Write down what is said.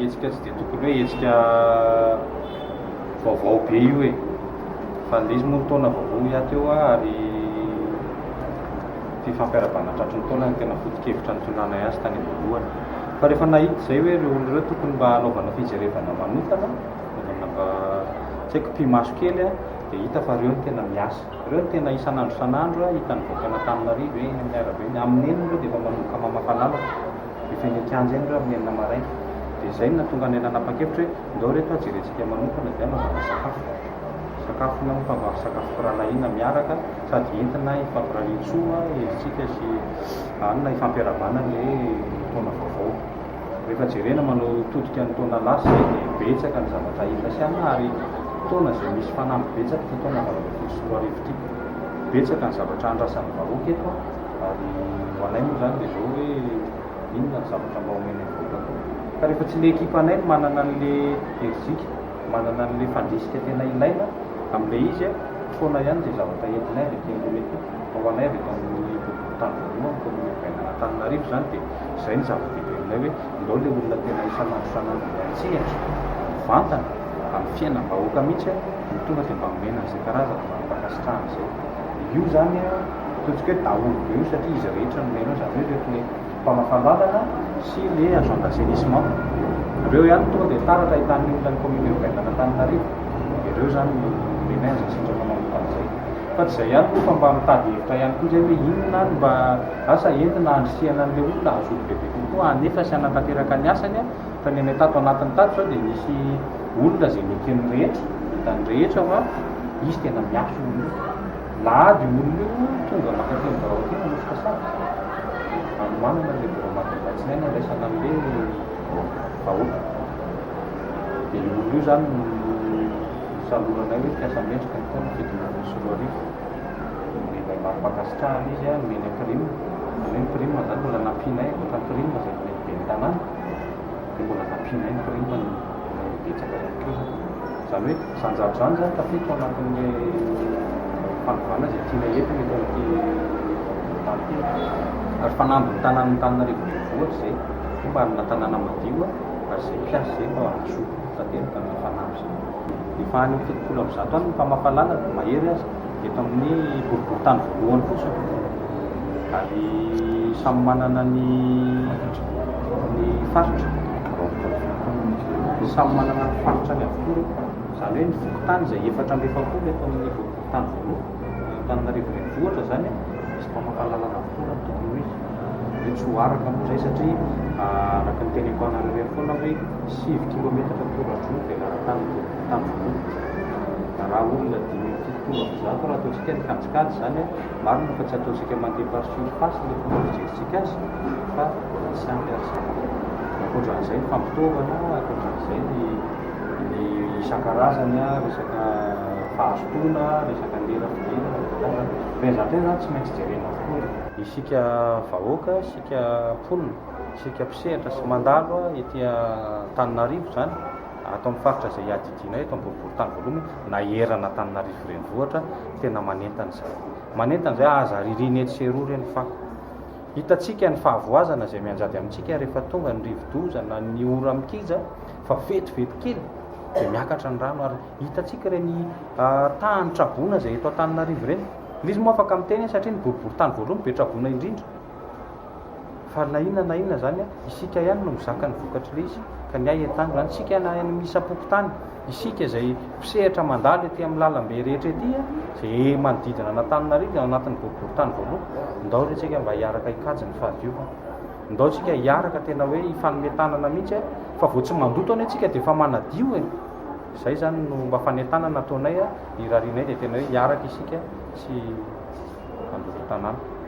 Hetsika tsy dia tokony hoe hetsika vaovao be io e! Fa indrisy moa ny taona vaovao hiato eo ary fifampiarahabana tratry ny taona no tena foto-kevitra nitondrana azy tany am-boalohany. Fa rehefa nahita izay hoe ireo olona ireo tokony mba hanaovana fijerevana manokana, hanaovana mba tsy haiko pi-maso kely an, dia hita fa ireo no tena miasa. Ireo no tena isan'andro isan'andro hitan'ny vahoakan'Antananarivo eny amin'ny arabe, amin'ny nenina ireo dia efa manomboka mamafa lalana. Efa eny an-kianja eny ireo amin'ny enina maraina. Dia izay no nahatonga anay nanapa-kevitra hoe ndao re toa jerentsika manokana dia anaovana sakafo. Sakafona mifangaro sakafo firahalahiana miaraka sady entina hifampirarian-tsoa, herijika sy anona hifampiarahabana ilay taona vaovao. Rehefa jerena manotodika ny taona lasa izay dia betsaka ny zavatra hita sy anona ary taona izay misy fanamby betsaka ity taona valo ambin'ny folo sy roa arivo ity. Betsaka ny zavatra andrasan'ny vahoaka eto an! Ary ho anay moa izany dia izao hoe inona ny zavatra mba omena ny vahoaka atao. Fa rehefa tsy ilay ekipa anay no manana an'ilay herijika, manana an'ilay fandrisika tena ilaina amin'ilay izy, foana ihany izay zavatra entinay avy aty ambony aty. Fa ho anay avy eto amin'ny boriborintany voalohany, kaominina Vahinan'Antananarivo, izany dia izay ny zava-dehibe aminay hoe ndao ilay olona tena isan'andro isan'andro miantsehatra, mivantana amin'ny fiainam-bahoaka mihitsy no tonga dia mba omena an'izay karazana mari-pankasitrahana izay. Io izany. Ataontsika hoe daholo be io satria izy rehetra no mena, izany hoe ireto le mpamafa-dalana sy le agent d'assainissement. Ireo ihany tonga dia taratra ahitan'ny olona ny comité urbain d'Anantananarivo. Dia ireo izany no mena azy sendra manao mody an'izay. Fa tsy izay ihany koa fa mba mitady hevitra ihany koa izay hoe inona ary mba asa entina handrisihana an'ilay olona hahazoany bebe kokoa hanefa sy hanatanteraka ny asany fa ny anay tato anatiny tato izao dia nisy olona izay neken'ny rehetra, hitan'ny rehetra fa izy tena miafina. Lahady io olona io tonga mankatỳ amin'ny birao aty manosika sazy. Anomanana ilay birao maraina alatsinainy handraisana an'ilay vahoaka. Dia io olona io izany no nosaloranay hoe mpiasa mendrika ny taona fito ambin'ny folo sy roa arivo. Nomenay mari-pankasitrahana izy, nomenay prime. Izany hoe ny prime izany mbola nampianay ankoatra ny prime izay nomen'ny ben'ny tanàna. dia mbola nampianay ny korontana ilay betsaka ihany koa izany. Izany hoe izany zavatra izany izany tafiditra ao anatin'ny fanovana izay tianay eto eto amin'ity hopitaly ity e. Ary fanamby ny tanàn'Antananarivo Renivohitra izay hoe mba hanana tanàna madio ary izay mpiasa izay mba hazoto tanteraka ny fanamby izay. Efa any amin'ny fitopolo amby zato any ny mpamafa lalana, mahery aza. eto amin'ny boriborintany voalohany fotsiny ary samy manana ny ny faritra samy manana ny faritra ny avokoa izany hoe ny fokontany izay efatra amby efapolo eto amin'ny boriborintany voalohany Antananarivo renivohitra izany misy mpamakalalan'ny avokoa ny tokony hoe hoe tsy ho araka moa izay satria araka ny teneniko anareo ihany foana hoe sivy kilometatra toradroa ny velaran-tany ny boriborintany voalohany raha olona dimy amby fitopolo amby zato raha ataontsika ny kajikajy izany an, marina fa tsy ataontsika mandeha par surface ilay fomba fijerentsika azy fa misy ampy ary izany. Ankoatran'izay ny fampitaovana, ankoatran'izay ny ny isan-karazany an, resaka fahazotoana, resaka lera fidirana, resaka Ireny zavatra ireny izany tsy maintsy jerena avokoa e! Isika vahoaka, isika mponina, isika mpisehatra sy mandalo an, ety Antananarivo izany, Ato amin'ny faritra izay iadidianay eto amin'ny boriborintany voalohany hoe naherana Antananarivo renivohitra, tena manentana izany. Manentana izay aza ririana etsy sy eroa ireny fako. Hitantsika ny fahavoazana izay mianjady amintsika rehefa tonga ny rivodoza na ny ora mikija fa vetivety kely dia miakatra ny rano ary hitantsika ireny tahan'ny traboina izay eto Antananarivo ireny. Misy moa afaka miteny hoe satria ny boriborintany voalohany be traboina indrindra. Fa na inona na inona zany isika ihany no mizaka ny vokatry le izy ka ny ahy entano zany isika na any misa pokontany isika izay mpisehatra mandalo ety amin'ny lalambe rehetra ety izay manodidina an'Antananarivo ao anatin'ny boribory tany voalohany ndao re tsika mba hiaraka hikajy ny fahadiovana ndao tsika hiaraka tena hoe hifanome tanana mihitsy fa vao tsy mandoto anie tsika dia efa manadio e izay zany no mba fanentanana ataonay a irarianay dia tena hoe hiaraka isika sy mandoto tanàna